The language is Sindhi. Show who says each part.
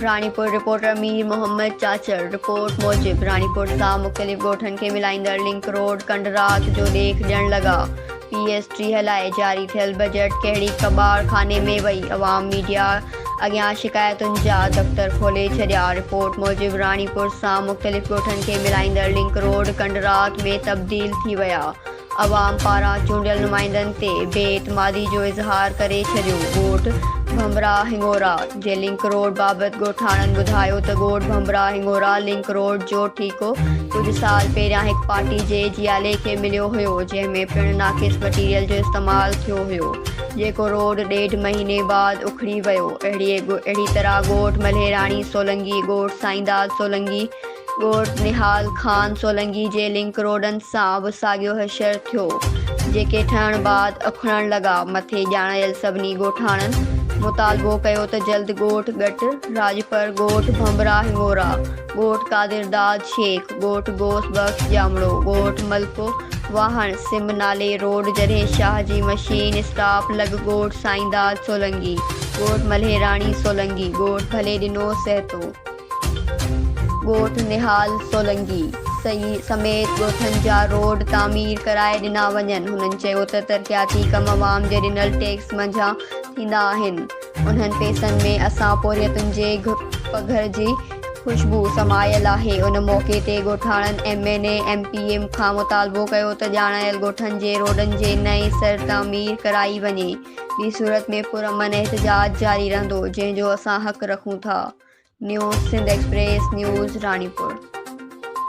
Speaker 1: راڻيپور، رپورٽر مير محمد چاچڙ، رپورٽ موجب راڻيپور سان مختلف ڳوٺن کي ملائيندڙ لنڪ روڊ ڪنڊ رات جو ڏيک ڏيڻ لڳا، پي ايس ٽيهه لاء جاري ٿيل بجيٽ ڪهڙي ڪٻاڙ خاني ۾ وئي، عوام ميڊيا اڳيان شڪايتن جا دفتر کولي ڇڏيا، رپورٽ موجب راڻيپور سان مختلف ڳوٺن کي ملائيندڙ لنڪ روڊ ڪنڊ رات ۾ تبديل ٿي ويا، عوام پاران چونڊيل نمائندن تي بي اعتمادي جو اظهار ڪري ڇڏيو، ڳوٺ ڀنڀرا هڱورا جي لنڪ روڊ بابت ڳوٺاڻن ٻڌايو ته ڳوٺ ڀنڀرا هڱورا لنڪ روڊ جو ٺيڪو ڪجهه سال پهريان هڪ پارٽي جي جيالي کي مليو هيو جنهن ۾ پڻ ناقص مٽيريل جو استعمال ٿيو هيو جيڪو روڊ ڏيڍ مهيني بعد اکڙي ويو اهڙي طرح ڳوٺ ملهيراڻي سولنگي ڳوٺ سائينداد سولنگي ڳوٺ نهال خان سولنگي جي لنڪ روڊن سان به ساڳيو حشر ٿيو، جيڪي ٺهڻ بعد اکڙڻ لڳا. مٿي ڄاڻايل سڀني ڳوٺاڻن مطالبو ڪيو ته جلد ڳوٺ ڳٽ راڄپر، ڳوٺ ڀنڀرا هڱورا، ڳوٺ قادرداد شيخ، ڳوٺ غوث بخش ڄامڙو، ڳوٺ ملڪو واهڻ، سم نالي روڊ جڏهن شاهه جي مشين اسٽاپ لڳ، ڳوٺ سائينداد سولنگي، ڳوٺ ملهيراڻي سولنگي، ڳوٺ ڀلي ڏنو سهتو. ڳوٺ نهال سولنگي سميت ڳوٺن جا روڊ تعمير ڪرائي ڏنا وڃن، هنن چيو ته ترقياتي ڪم عوام جي ڏنل ٽيڪس منجهان ٿيندا آهن، انهن پئسن ۾ اسان پورهيتن جي پگهر جي خوشبو سمايل آهي، ان موقعي تي ڳوٺاڻن M N A M P A کان مطالبو ڪيو ته ڄاڻايل ڳوٺن جي روڊن جي نئين سر تعمير ڪرائي وڃي. ٻي صورت ۾ پرامن احتجاج جاري رهندو جنهن جو اسان حق رکون ٿا، news Sindh express news Ranipur.